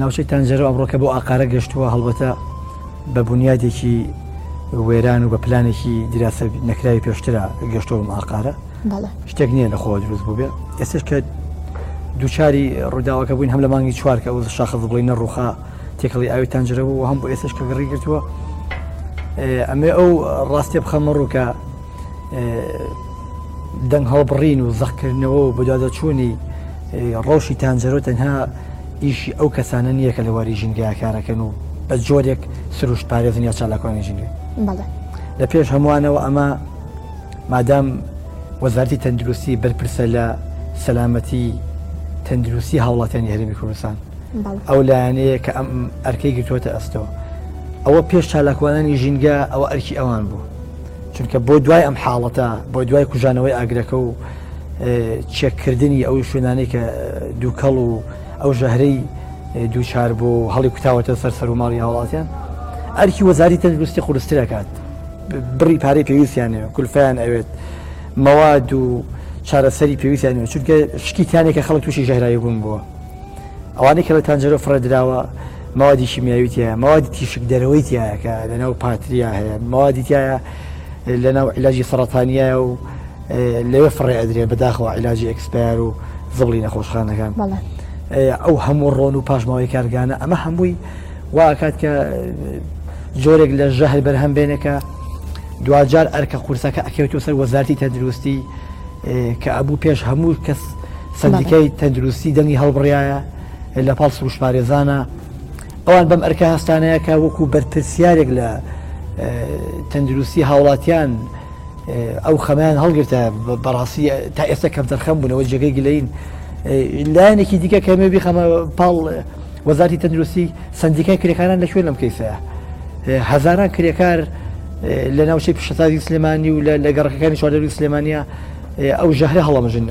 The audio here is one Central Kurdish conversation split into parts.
ناوچەی تەنجەرە ئەمڕۆکە بۆ ئاقارە گەشتووە هەڵبەتە بە بنیادێکی وێران و بە پلانێکی دیراسە نەکراوی پێشترا گەشتۆم ئاقارە شتێک نییە لە خۆ دروست بووبێ ئێستش کە دوچاری ڕووداوەکە بووین هەم لە مانگی چوارکە و شاخە بڵی نەڕوخا تێکەڵی ئاوی تەنجرە بوو هەم بۆ ئێستش کە گەڕی گرتووە ئەمێ ئەو ڕاستێ بخەمە ڕووکە دەنگ هەڵبڕین و زەقکردنەوە و بەدادەچوونی ڕەوشی تانجەرۆ تەنها ئیشی ئەو کەسانە نییە کە لە واری ژینگەیە کارەکەن و بە جۆرێک سروشت پارێزن یا چالاکوانی ژینگە لە پێش هەمووانەوە ئەمە مادام وەزارتی تەندروستی بەرپرسە لە سەلامەتی تەندروستی هاوڵاتیانی هەرمی کوردستان ئەو لایەنەیە کە ئەم ئەرکەی گرتووەتە ئەستەوە ئەوە پێش چالاکوانانی ژینگە ئەوە ئەرکی ئەوان بوو چونکە بۆ دوای ئەم حاڵەتە بۆ دوای کوژانەوەی ئاگرەکە و چێککردنی ئەو شوێنانی کە دووکەڵ و ئەو ژەهرەی دووچار بۆ هەڵی کوتاوەتە سەر سەر و ماڵی هاوڵاتیان ئەرکی وەزاری تەندروستی قورسترەکات بڕی پارەی پێویستیانێ کولفیان ئەوێت مەواد و چارەسەری پێویستیان چونکە شکیتانێکە خەڵک تووشی ژەهرایی بوون بووە ئەوانەی کە لە تانجەرۆ فڕێ دراوە مەوادی شیمیاوی تایە مەوادی تیشک دەرەوەی تایە کە لەناو پاتریا هەیە مەوادی تایە لەناو علاجی سەرەتانیە و لەوێ فڕێ ئەدرێ بەداخەوە علاجی ئەکسپار و زبڵی نەخۆشخانەکان ئەو هەموو ڕۆن و پاشماوەی کارگانە ئەمە هەمووی واکات کە جۆرێک لە ژەهر بەرهەم بێنێکە دوجار ئەرکە قورسەکە ئەکەوێتەوە سەر وەزارتی تەندروستی کە ئەبوو پێش هەموو کەس سەندیکای تەندروستی دەنگی هەڵبڕایە لە پاڵ سروشپارێزانە ئەوان بەم ئەرکە هەستانەیەکە وەکو بەرپرسیارێک لە تەندروستی هاوڵاتیان ئەو خەمیان هەڵگرتە بەڕاستی تا ئێستا کەم دەرخەم بوونەوە جێگەی گلین لایەنێکی دیکە کەمێ بیخەمە پاڵ وەزارتی تەندروستی سندیکای کرێکاران لە شوێن لەم کەیسەیە هەزاران کرێکار لە ناوچەی پیشەسازی سلێمانی و لە گەڕەکەەکانی چواردەوری سلێمانە ئەو ژەهرە هەڵەمژن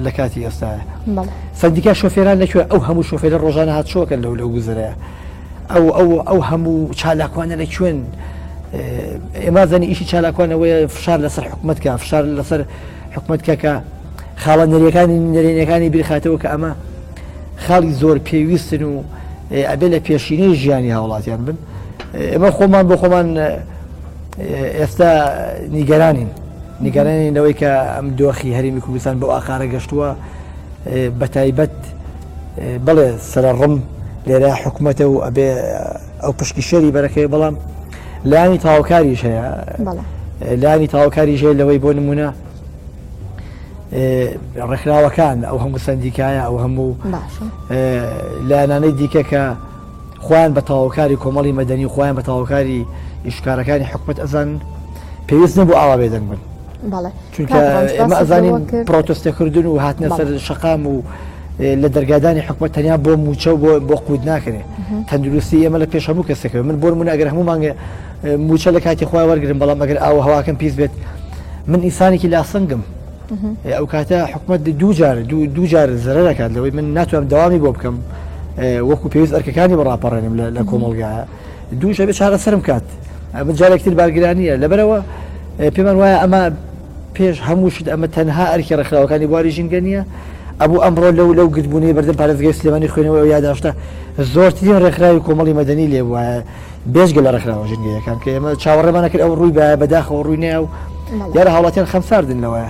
لە کاتی ئێستاە سندیکا شۆفێران لەکوێ ئەو هەموو شۆفێرە ڕۆژانە هات شۆکە لەو لەو گوزرە ئەو ئەو ئەو هەموو چالاکوانە لە کوێن ئێمازانی ئیشی چالاکوانەوەی فشار لەسەر حکوومەتکە فشار لەسەر حکوومەتکە کە خاڵە نەریەکانی نەرێنەکانی بیرخاتەوە کە ئەمە خاڵی زۆر پێویستن و ئەبێ لە پێشینەی ژیانی هاوڵاتیان بن ئێمە خۆمان بۆ خۆمان ئێستا نیگەرانین نیگەرانین لەوەی کە ئەم دۆخی هەرمی کوردستان بۆ ئاقارە گەشتووە بە تایبەت بڵێ سرە ڕم لێرە حکوومەتە و ئەبێ ئەو پشکی شەری بەرەکەی بەڵام لانی تاوکاریش هەیە لانی تاوکاری ژێ لەوەی بۆ نمونە ڕێکخراوەکان ئەو هەموو سندیکایە ئەو هەموو لایەنانەی دیکە کە خۆیان بە تاوەکاری کۆمەڵی مەدەنی و خۆیان بە تاوەکاری ئیشکارەکانی حکومەت ئەزان پێویست نەبوو ئاوا بێدەنگ بن چونکە ئێمە ئەزانین پرۆتستەکردن و هاتنە سەر شقام و لە دەرگادانی حکومەت تەنیا بۆ موچە و بۆ بۆ قووت ناکرێت تەندروستی ئێمە لە پێش هەموو کەسەکەوە من بۆر منە ئەگەر هەموو مانگە موچە لە کاتی خۆی وەرگن بەڵام ئەگەر ئاوە هەواکەم پیس بێت من ئیسانێکی لاسنگم ئەو کاتە حکومەت دووجار دووجار زرەکات لەوەی من ناتوانم داوامی بۆ بکەم وەکو پێویست ئەرکەکانی بەڕاپەڕێنم لە کۆمەلگا دووشە بێ چارە سرم کات بجارێکتر بارگرانیە لەبەرەوە پێمان وایە ئەمە پێش هەموو شت ئەمە تەنها ئەرکی ڕخراوەکانی بواری ژینگە نیە ئەبوو ئەمڕۆ لەو لەو گرتبوونی بەردەم پارێزگەی سلێمانی خوێنەوە یاداشتە زۆرترین ڕێکخراوی کۆمەڵی مەدەنی لێ وایە بێجگە لە ڕێکخراوە ژنگەیەکان کە ئێمە چاوەڕێمانە کرد ئەو ڕووی بە بەداخەوە ڕووی ناو یارە هاوڵاتیان خەمساردن لەوە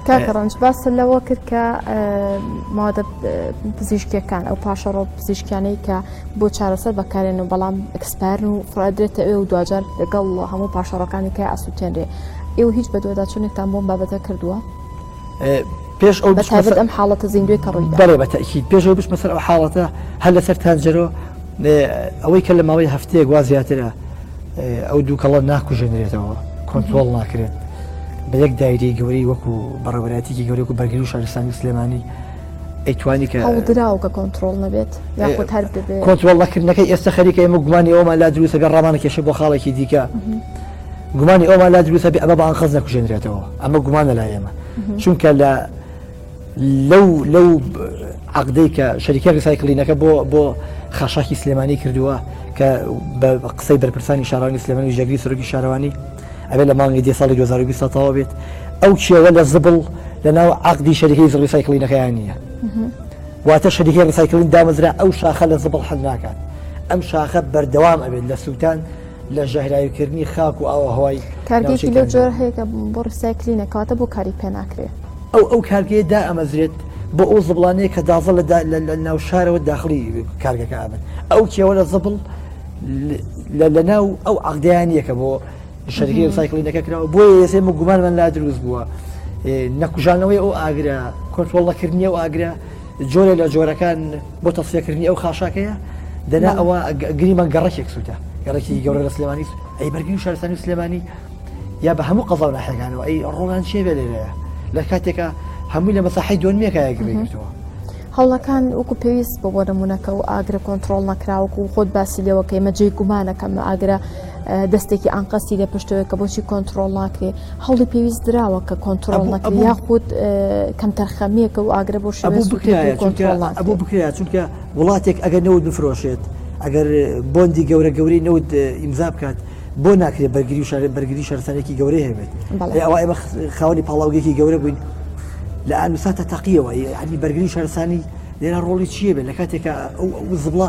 کاکە ڕەنج باس لەوە کرد کە مادە پزیشکەکان ئەو پاشەڕۆ پزیشکیانەی کە بۆ چارەسەر بەکارێن و بەڵام ئەکسپارن و فرادرێتە ئێ و دوجار لەگەڵ هەموو پاشەڕەکانی کە ئاسووتێنرێ ئێوە هیچ بە دووەداچوونێکتان بۆم بابەتە کردووە پێش ئەو بەتابێت ئەم حاڵەتە زیندوێ کە ڕووی بەڵێ بەتەکی پێشەوە بچ مەسەر ئەو حاڵەتە هەر لەسەر تانجەرۆ ئەوەی کە لە ماوەی هەفتەیەک وا زیاترە ئەو دووکەڵە ناکوژێنرێتەوە کۆنتترۆل ناکرێت بە یەک دایری گەوری وەکو بەڕێوەراتێکی گەورەکو بەرگری و شارستانی سلێمانی ئەیتوانی کە دراو کە کۆنتترۆل نەبێت یاخود هەر کۆنتترۆل نەکردنەکەی ئێستا خەریکە ئێمە گومانی ئەومان لا دروستەکە ڕامانە کێشە بۆ خاڵێکی دیکە. گومانی ئەومان لا دروستە بێ ئەمە بە ئەنقەست نەکوژێنرێتەوە ئەمە گومانە لا ئێمە چونکە لە لەو لەو عقدەی کە شەریکە ریسایکلینەکە بۆ بۆ خاشاکی سلێمانی کردووە کە بە قسەی بەرپرسانی شارانی سلێمانی ژەگری سەرۆکی شارەوانی ئەبێ لە مانگی دی ساڵی 2020 تەوا بێت ئەو چێوە لە زبڵ لە ناو عقدی شەریکەی زڕی سایکلینەکەیان نییە واتە شەریکە ڕسایکلین دامەزرا ئەو شاخە لە زبڵ حل ناکات ئەم شاخە بەردەوام ئەبێت لە سووتان لە ژەهراویکردنی خاک و ئاوەهەوای کارگەیەکی لەو جۆرە هەیە کە بۆ ڕیسایکلینە کەواتە بۆ کاری پێ ناکرێت ئەو ئەو کارگەیە دا ئەمەزرێت بۆ ئەو زبڵانەیە کە دازە لە ناو شارەوە داخلی کارگەکە ئابن ئەو کێوە لە زبڵ لە ناو ئەو عقدیانیەکە بۆ شەرگەی سایکلینەکە کراوە بۆ یەسێ گومانمان لا دروست بووە نەکوژانەوەی ئەو ئاگرە کۆنتۆڵەکردنی و ئاگرە جۆرێ لە جۆرەکان بۆ تەسیەکردنی ئەو خاشاکەیە دەنا ئەوە گریمان گەڕەکێک سووتە گەڕێکی گەورە لە سلێمانی ئەی بەرگری و شارستانی و سلێمانی یا بە هەموو قەزا ناحەکانەوە ئەی ڕۆڵان چێ بێ لێرەیە لە کاتێکە هەمووی لە مەساحی دۆنمێکایە گرێتەوە هەوڵەکان وەکو پێویست بۆ بۆ نمونونەکە و ئاگرە کۆنتترۆل نەکراوەکو خۆت باسی لێوەکەی مەجێ گومانەکەم ئاگرە دەستێکی ئانقەستی لە پشتەوە کە بۆچی کۆنتترۆل ناکرێ هەوڵی پێویست دراوە کە کۆنتترۆل نەکە یاخود کەم تەرخەمیەکە و ئاگرە بۆ شەبوو بکرایە ئەبوو بکرایە چونکە وڵاتێک ئەگەر نەوت بفرۆشێت ئەگەر بۆندی گەورە گەورەی نەوت ئیمزا بکات بۆ ناکرێت بەرگری شار بەرگری شەرسەنێکی گەورەی هەبێت ئەوە ئێمە خاوەنی پاڵاوگەێکی گەورە بووین لە ئەنووساتە تەقیەوە ینی بەرگری شارسانی لێرا ڕۆڵی چیە بێت لە کاتێکە ئەو زبڵە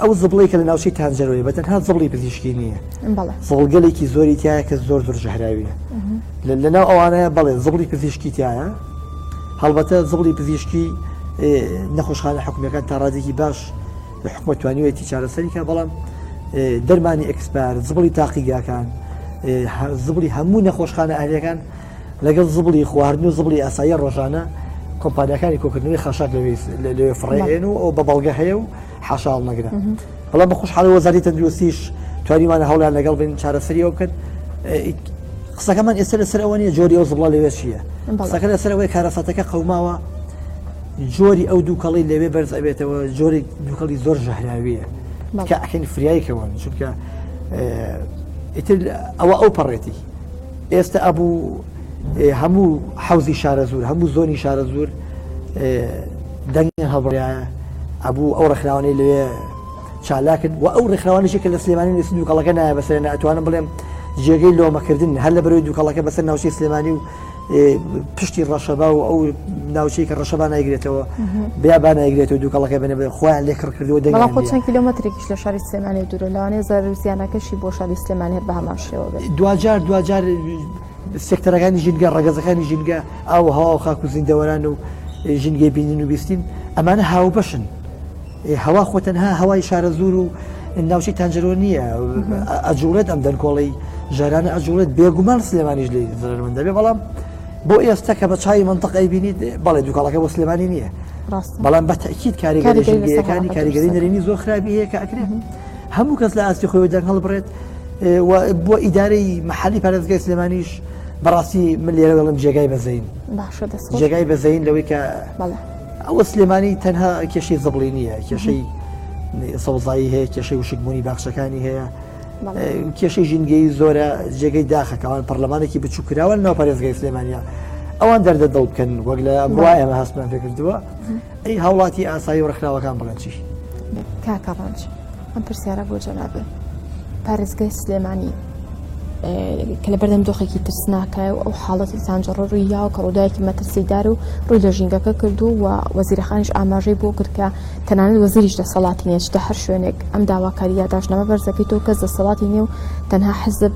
ئەو زبڵی کە لە ناوچەی تانجەرۆی بە تەنها زبڵی پزیشکی نییە زۆڵگەلێکی زۆری تایە کە زۆر زۆر ژەهراویە لە ناو ئەوانەیە بەڵێ زبڵی پزیشکی تایە هەڵبەتە زبڵی پزیشکی نەخۆشخانە حکومەکان تا ڕادێکی باش لە حکومە توانیوەتی چارەسەریکە بەڵام دەرمانی ئەکسپار زبڵی تاقیگاکان زبڵی هەموو نەخۆشخانە ئەهلەکان لەگەڵ زبڵی خواردن و زبڵی ئاسایی ڕۆژانە کۆمپانیەکانی کۆکردنەوەی خاشاک لەوێ فڕێن و ئەو بە بەڵگە هەیە و حاشاڵ نەگرن بەڵا بە خۆشحاڵی وەزاری تەندروستیش توانیوانە هەوڵیان لەگەڵ بین چارەسەری ئەو بکەن قسەکەمان ئێستا لەسەر ئەوە نیە جۆری ئەو زبڵە لەوێ چییە قسەکە لەسەر ئەوەی کارەساتەکە قەوماوە جۆری ئەو دووکەڵی لەوێ بەرز ئەبێتەوە جۆری دووکەڵی زۆر ژەهراویە کە ئەکەین فریایکەوە چونکە ئیتر ئەوە ئەو پەڕێتی ئێستە ئەبوو هەموو حەوزی شارەزور هەموو زۆنی شارەزور دەنگ هەڵبڕایە ئەبوو ئەو ڕخراوانەی لەوێ چالاکرد و ئەو ڕێکخراوانشی کە لە سلێمانی نووسی دووکەڵەکە نایە بەسەر ناتوانم بڵێم جێگەی لۆمەکردن هەر لە بەرەوەی دووکەڵەکە بەسەر ناوچەی سلێمانی و پشتی ڕەشەبا و ئەو ناوچەی کە ڕەشەبا نایگرێتەوە بیابان نایگرێت و دووکەڵەکە بنە خۆیان لێ کڕ کردو دەڵ خۆ چەند کیلومترێکیش لە شاری سلێمانی دوورە لەوانێ زارزیانەکەشی بۆ شاری سلێمانی هەر بە هەمان شێوە دوجار دوجار سێکتەرەکانی ژینگە ڕگەزەکانی ژینگە ئاو هەوا و خاک و زیندەوەران و ژینگەی بینین و بیستین ئەمانە هاوبەشن هەوا خۆ تەنها هەوای شارەزوور و ناوچەی تانجەرۆ نییە ئەجوڵێت ئەم دەنکۆڵی ژارانە ئەجوڵێت بێگومان سلێمانیش لی زرمن دەبێ بەڵام بۆ ئێستا کە بە چای منطقەی بینیت بەڵێ دوکاڵەکە بۆ سلێمانی نییە بەڵام بە تاکییت کاریگەریەکانی کاریگەری نەرێنی زۆر خراپی هەیە کە ئەکرێت هەموو کەس لە ئاستی خۆی دەنگ هەڵبڕێت بۆ ئیدارەی مححالی پارێزگای سلێمانیش بەڕاستی من لێرە دەڵم جێگای بەزین جێگای بەزین لەوەی کە ئەوە سلێمانی تەنها کێشەی زبڵی نییە کێشەی سەوزایی هەیە کێشەی وشکبوونی باخچەکانی هەیە کێشەی ژینگەی زۆرە جێگەی داخەکەوان پەرلەمانێکی بچووکراوە ناو پارێزگای سلێمانیا ئەوان دەردە دڵ بکەن وەک لە بڕوا ئێمە هەستمان پێکردووە ئەی هاوڵاتی ئاسایی و ڕخراوەکان بڵێن چی کاکەڕۆژ. ئەم پرسیارە بۆ جەنابی پارێزگای سلێمانی کە لە بەردەم دۆخێکی ترسناکە و ئەو حاڵەتی سانجڕۆر و یاو کە ڕووداوێکی مەترسیدار و ڕووی لە ژینگەکە کردو و وەزیرەخانیش ئاماژەی بۆ کرد کە تەنانەت وەزیریش دەسەڵاتی نیە چتە هەر شوێنێک ئەم داواکاری یاداشنامە بەرزەکەی تۆ کەس دەسەڵاتی نیە و تەنها حزب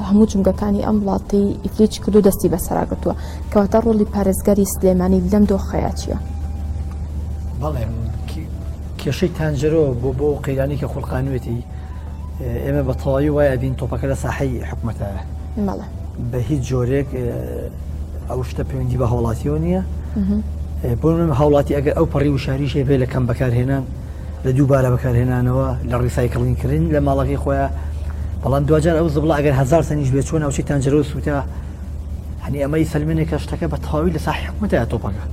هەموو جمگەکانی ئەم وڵاتی ئیفلیچ کردو دەستی بەسەراگرتووە کەواتە ڕۆڵی پارێزگاری سلێمانی لەم دۆخەیە چیە؟ بەڵێ کێشەی تانجەرۆ بۆ بۆ قەیرانی کە خوڵقانوێتی ئێمە بە تەواوی وای ئەبین تۆپەکە لە ساحەی حکوومەتایە بە هیچ جۆرێک ئەو شتە پەیوەندی بە هاوڵاتیەوە نییە بۆ من هاوڵاتی ئەگەر ئەو پەڕی وشاریش هەبێ لە کەم بەکارهێنان لە دووبارە بەکارهێنانەوە لە ڕیسایکلین کردن لە ماڵەکەی خۆیان بەڵام دوجار ئەو زبڵە ئەگەر هزار سنیش بێ چۆن ئەوچی تەنجەرۆ سووتا هەنی ئەمەی سلمێنێک کە شتەکە بە تەواوی لەسا حکومەتە تۆپەکە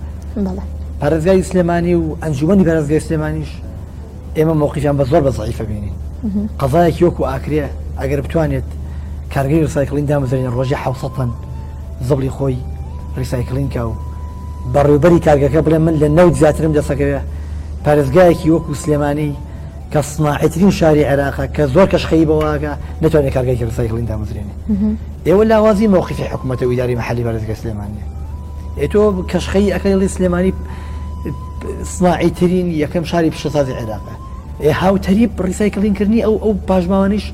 پارێزگای سلێمانی و ئەنجومی پارێزگای سلێمانیش ئێمە مووقیان بە زۆر بە زعیفە بینین قەزایەکی وەکو ئاکرێ ئەگەر بتوانێت کارگەی ڕسایکلین دامەزرێن ڕۆژی حوسەن زبڵی خۆی ڕیسایکلین کا و بەڕێوبەری کارگەکە بڵێ من لە نەوت زیاترم دەسەکەوێ پارێزگایەکی وەکو سلێمانی کە سناعیترین شاری عێراقە کە زۆر کەش خەریبە واکە نەتوانێت کارگەیەکی ڕسایکڵین دامەزرێنێ ئێوە لاوازی مەوقفی حکوومەتە و ئیداری مەحەلی بەرزگە سلێمانە ئێ تۆ کەشخەی ئەکەڵی سلێمانی سناعیترین یەکەم شاری پیشەسازی عێراقە ئێ هاوتەریب ڕیسایکلین کردنی ئەو ئەو پاشماوانیش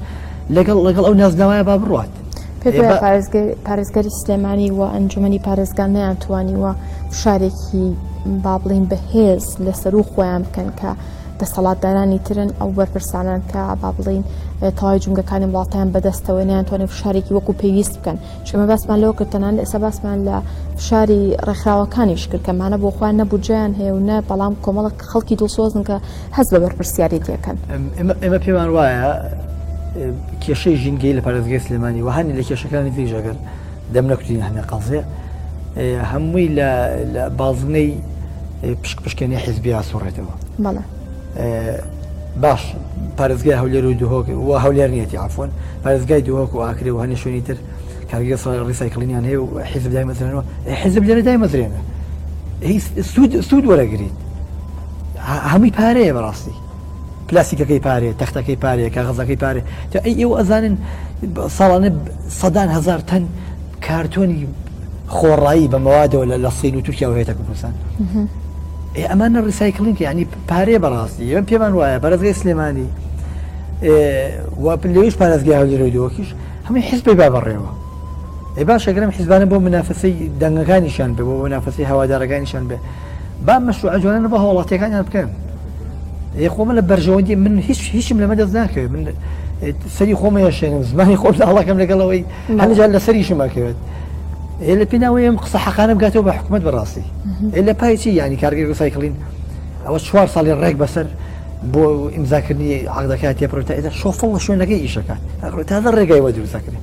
لەگەڵ لەگەڵ ئەو نازناوایە با بڕات پارێزگەری سلێمانی و ئەنجومی پارێزگان نیان توانیوە شارێکی بابلین بەهێز لەسەر و خۆیان بکەن کە دەسەڵاتدارانی ترن ئەو بەرپرسانان کە با بڵین تەواوی جونگەکانی وڵاتیان بەدەستەوە نیانتوانێت فشارێکی وەکو پێویست بکەن چمە باسمان لەوە کردتەنان ئێستا باسمان لە فشاری ڕێکخراوەکانیش کردکەمانە بۆ خۆیان نەبوجیان هەیە و نە بەڵام کۆمەڵک خەڵکی دڵسۆزن کە هەز بە بەرپرسیارێتیەکەن ئێمە پێمان وایە کێشەی ژینگەی لە پارێزگەی سلێمانی وهانی لە کێشەکانی تریژەکەن دەم نەکوتین هەنێ قەزێ هەمووی لە بازنەی پشک پشکێنی حیزبی ئاسوڕێتەوە بەڵێ باش پارێزگای هەولێر و دهۆک و هەولێر نیەتی ئافۆن پارێزگای دهۆک و ئاکرێ و هەنێ شوێنی تر کارگە ڕیسایکلینیان هەیە و حیزب دای مەزرێنەوە حیزب لێرە دای مەزرێنە سوود وەرەگریت هەمووی پارەیە بەڕاستی پلاستیکەکەی پارێ، تەختەکەی پارێ، کاغەزەکەی پارێ، جا ئەی ئێوە ئەزانن ساڵانە سەدان هەزار تەن کارتۆنی خۆڕایی بە مەوادەوە لە لە سین و تورکیا و هێتە کوردستان ئەمانە ڕیسایکلینگ ینی پارێ بەڕاستی ئێمە پێمان وایە بەرزگەی سلێمانی لەویش پارێزگای هەولێرەوەی دۆکیش هەمووی حزبی با بەڕێوە ئێ باشەگرم حیزبانە بۆ منافەسەی دەنگەکانیشان بێ بۆ منافەسەی هەوادارەکانیشان بێ با مەشروعە جوانانە بۆ هاوڵاتیەکانیان بکەن ئێ خۆمە لە بەرژەوەندی من هیچ هیچم لەمە دەست ناکەوێت من سەری خۆمە یاشێنم زمانی خۆم لاڵەکەم لەگەڵەوەی هەنجار لە سەری شمەکەوێت ئێ لە پێناوەی ئەم قسە حەقانم گاتەوە بە حکوومەت بەڕاستی ئێ لە پایچی ینی کارگەی ڕسایکلین ئەوە چوار ساڵی ڕێک بەسەر بۆ ئیمزاکردنی عقدەکە تێپڕێت تا ئێدا شۆفڵ لە شوێنەکەی ئیشەکە تازە ڕێگای وە دروستەکرێت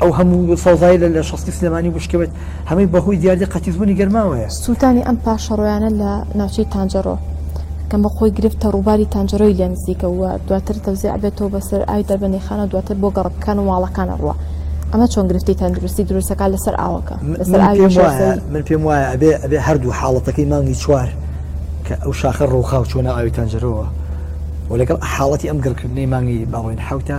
ئەو هەموو سەوزایی لە لە شەستی سلێمانی بشکەوێت هەمەی بەهۆی دیاردی قەتیزبوونی گەرماوەیە سووتانی ئەم پاشەڕۆیانە لە ناوچەی تانجەڕۆ کەم بە خۆی گرفتە ڕووباری تانجەرۆی لێ نزیکە وە دواتر تەوزی ئەبێتەوە بەسەر ئای دەربەندیخانە و دواتر بۆ گەڕکەکان و ماڵەکانە ڕوە ئەمە چۆن گرفتی تەندروستی دروستەکان لەسەر ئاوەکە لەسەر من پێم وایە من پێم وایە ئەبێ ئەبێ هەردوو حاڵەتەکەی مانگی چوار کە ئەو شاخە ڕووخاو چۆنە ئاوی تەنجەرەوە و لەگەڵ حاڵەتی ئەم گڕکردنەی مانگی باڵۆین حوتە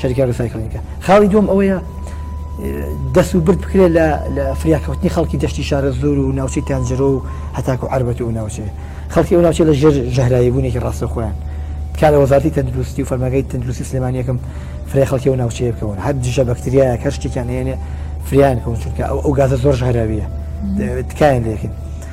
شەریکە ڕسایکلینگە خاڵی دوم ئەوەیە دەست و برد بکرێت لە لە فریاکەوتنی خەڵکی دەشتی شارە زۆر و ناوچەی تانجرۆ و هەتاکو عربەت و ناوچێ خەڵکی ئەو ناوچێ لە ژێر ژەهرایی بوونێکی ڕاستە خۆیان کار لە وەزارتی تەندروستی و فەرمەگەی تەندروستی سلێمانیەکەم فرێ خەڵکی و ناوچەیە بکەون هەر دژە بەکتریا کە شتێکیان هێنێ فریان کەون چونکە ئەو ئەو گازە زۆر ژهراویە تکایان لەکن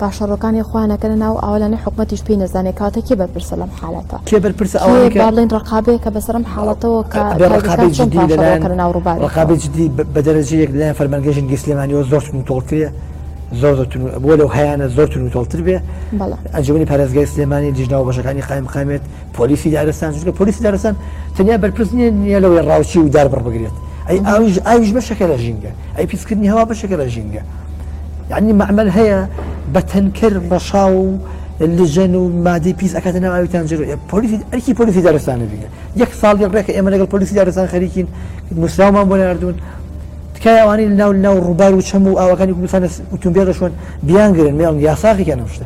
پاشەڕۆکانی خۆیان ئەکەنە ناو ئاو لانەی حکومەتیش پێی نەزانێ کەواتە کێ بەرپرسە لەم حالەتە کێ بەرپرسە کێ ئەوانەی کە با بڵێن ڕقابەیە کە بەسەر ئەم حاڵەتەوە کە بێ ڕقابەی پادشاه چۆن جدی پاشەڕۆ لەلایەن ئەکەنە ناو ڕووباری ڕقابەی خۆی جدی بە بە دەرەجەیەک لەلایەن فەرمانگەی ژینگەی سلێمانیەوە زۆر توند و تۆڵترە زۆر زۆر توند و بۆ لەو هەیانە زۆر توند و تۆڵتر بێ بەڵێ ئەنجومەنی پارێزگای سلێمانی لیژنە و بەشەکانی قایم قامێت پۆلیسی دارستان چونکە پۆلیسی دارستان تەنیا بەرپرس نییە نییە لەوەی ڕاوچی و دار بڕبگرێت ئەی ئاویش ئاویش بەشێکە لە ژینگە ئەی پیسکردنی هەوا بەشێکە لە ژینگە یەعنی مەعمەل هەیە بە تەنکەر ڕەشاو و لجەن و مادەی پیس ئەکاتە ناو ئاوی تانجەر و پۆلیسی ئەرکی پۆلیسی دارستانە بینە یەک ساڵی ڕێکە ئێمە لەگەڵ پۆلیسی دارستان خەریکین نووسراومان بۆ ناردوون تکایوانی ناو ناو ڕووبار و چەم و ئاوەکانی کوردستانە ئوتومبیل شوێن بیانگرن میان یاساقیکە نەشتە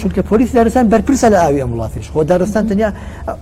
چونکە پۆلیس دارستان بەرپرسە لە ئاوی ئەم وڵاتیش خۆ دارستان تەنیا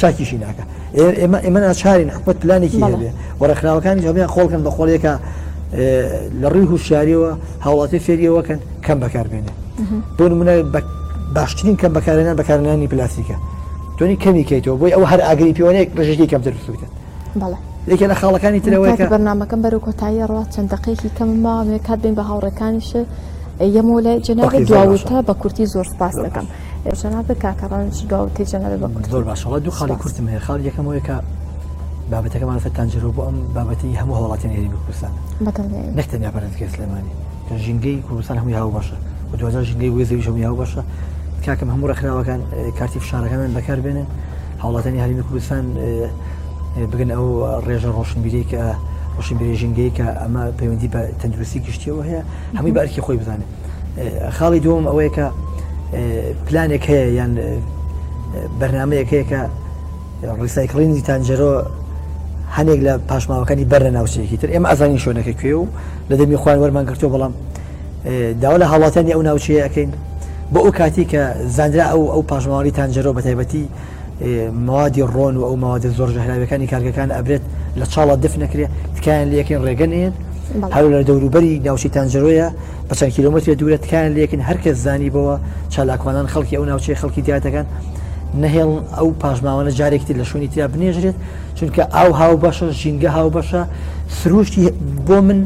چاکیشی ناکە ئێمە ئێمە ناچارین حکومت پلانێکی هەبێ و ڕێکخراوەکانی جوابیان خۆڵکن بە خۆڵیەکە لە ڕووی هوشیاریەوە هاوڵاتی فێریەوەکەن کەم بەکاربێنێ بۆ نمونە باشترین کەم بەکارێنان بەکارنانی پلاستیکە تۆنی کەمی کەیتەوە بۆی ئەو هەر ئاگری پێوانەیە ڕژێکی کەمتر بسووتن یەکێ لە خاڵەکانی ترەوەی بەنامەکەم بەرو کۆتایی ڕات چەند دقێکی کەم ماوێ کات بین بە هاوڕەکانیش یەمۆ لای جناوی دواوتە بە کورتی زۆر سپاس دەکەم. جەنابت کاکە ڕەنج دواوتەی جەنابت بە کورتی. زۆر باشە وڵا دوو خاڵی کورتم هەیە خاڵی یەکەم هەیە کە بابەتەکە مالفەتان جرۆ بۆ ئەم بابەتی هەموو هەوڵاتیان هێرمی کوردستان بەدڵنیایی. نەکتەنیا پەرستگای سلێمانی کە ژینگەی کوردستان هەمووی هاو باشە و دوجار ژینگەی وێ زەویش هەمووی هاو باشە کاکەم هەموو ڕێکخراوەکان اه، کارتی فشارەکانیان بەکار بێنن هەوڵاتانی هەرمی کوردستان اه، اه، بگەن ئەو ڕێژە ڕۆشنبیری کە ڕۆشنبیری ژینگەی کە ئەمە پەیوەندی بە تەندروستی گشتیەوە هەیە هەمووی بە ئەرکی خۆی بزانێت خاڵی دووەم ئەوەیە کە پلانێک هەیە یان بەرنمەیەک هەیە کە ڕیسایکلینی تانجەرۆ هەنێک لە پاشماوەکانی بەر لە ناوچەیەکی تر ئێمە ئازانی شوێنەکە کوێ و لە دەمی خوان وەرمان گرتو بەڵام داوا لە هاوڵاتانی ئەو ناوچەیەکەین بۆ ئەو کاتی کە زانرا ئەو ئەو پاشماوانی تانجەرۆ بە تایبەتی موادی ڕۆن و ئەو موادە زۆر ژەهراویەکانی کارگەکان ئەبرێت لە چاڵە دف نەکرێت تکایان لەکەین ڕێگەنێن هەر لە دەوروبەری ناوچی تانجرۆیە بە چەند کیلومتر دوورە تکایان لەکن هەرکەس زانی بەوە چالاکوانان خەڵکی ئەو ناوچەی خەڵکی دیاتەکان نەهێڵ ئەو پاشماوانە جارێکتی لە شوێنی تیا بنێژرێت چونکە ئاو هاو بەشە ژینگە هاو بەشە سروشتی بۆ من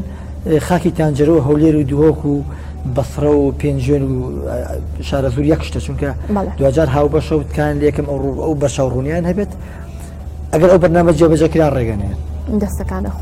خاکی تانجەرە و هەولێر و دهۆک و بەسڕە و پێنجێن و شارەزور یەک شتە چونکە دوجار هاو بەشە و تکان لەکەم ئەو ڕوو ئەو بەشە ڕوونیان هەبێت ئەگەر ئەو بەرنامە جێبەجەکرا ڕێگەنێ دەستەکانە خۆ